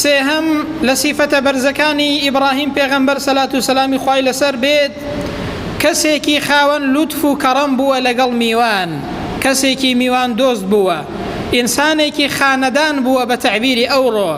سێهەم، لە سیفەتە بەرزەکانی ئیبڕاهیم پێغەمبەر سەلات و سەلامی خوای لەسەر بێت کەسێکی خاوەن لوتف و کەڕەم بووە لەگەڵ میوان، کەسێکی میوان دۆست بووە، ئینسانێکی خانەدان بووە بە تەعبیری ئەوڕۆ،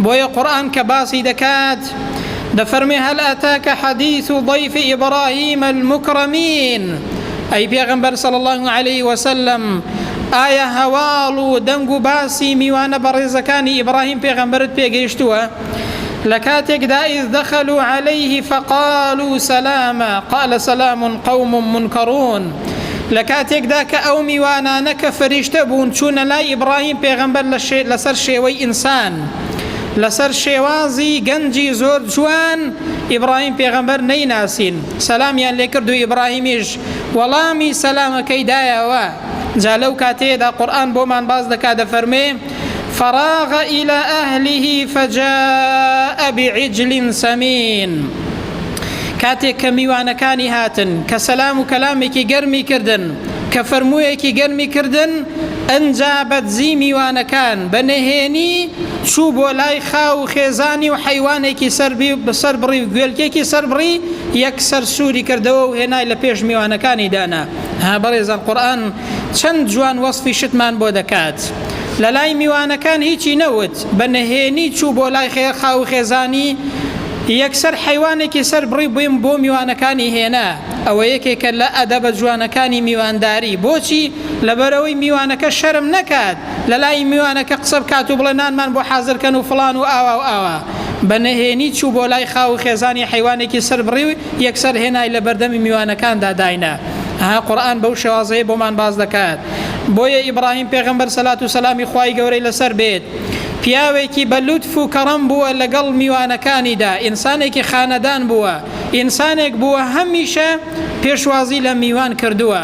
بۆیە قورئان کە باسی دەکات محمد دەفەرمێ هەل ئەتاکە حەدیث و ضیف ئیبراهیم المکرمین ئەی پێغمبەر صلی الله علیه وسلم ئایا هەواڵ و دەنگ و باسی میوانە بەڕێزەکانی ئیبراهیم پێغمبرت پێگەیشتووە لە کاتێکدا ئیز دەخەل و عليه فقال و سەلامە قال سەلام قوم منکڕون لە کاتێکدا کە ئەو میوانانە کە فریشتە بوون چوونە لای ئیبراهیم پێغمبەر لەسەر شێوەی ئینسان لەسەر شێوازی گەنجی زۆر جوان ئیبڕاهیم پێغەمبەر نەیناسین سەلامیان لێکرد و ئیبڕاهیمیش وەڵامی سەلامەکەی دایەوە جا لەو کاتەیەدا قورئان بۆمان باس دەکا دەفەرموێ فراغ إلى أهله فجاء بعجل سمين کاتێک کە میوانەکانی هاتن کە سەلام و کەلامێکی گەرمی کردن کە فەرموویەکی گەرمی کردن ئەنجا بەدزی میوانەکان بە نهێنی چوو بۆ لای خاو و خێزانی و حەیوانێکی سەربڕی و گوێلکێکی سەربڕی یەکسەر سووری کردەوە و هێنای لە پێش میوانەکانی دانا. ها بەڕێزان قورئان چەند جوان وەسفی شتمان بۆ دەکات. لە لای میوانەکان هیچی نەوت، بە نهێنی چوو بۆ لای خاو و خێزانی، یەکسەر حەیوانێکی سەربڕی و بۆ میوانەکانی هێنا. ئەوە یەکێکە لە ئەدەبە جوانەکانی میوانداری. بۆچی؟ لەبەرئەوەی میوانەکە شەرم نەکات. لە لای میوانەکە قسە بکات و بڵێ نانمان بۆ حازر کەن و فڵان و ئاوا و ئاوا بە نەهێنی چوو بۆ لای خاو و خێزانی حیوانێکی سەر بڕی و یەکسەر هێنای لە بەردەمی میوانەکاندا داینا ها قورآن بەو شێوازەیە بۆمان باز دەکات بۆیە ئیبراهیم پێغەمبەر سەلات و سەلامی خوای گەورەی لەسەر بێت پیاوێکی بە لوتف و کەڕەم بووە لەگەڵ میوانەکانیدا ئینسانێکی خانەدان بووە ئینسانێک بووە هەمیشە پێشوازی لە میوان کردووە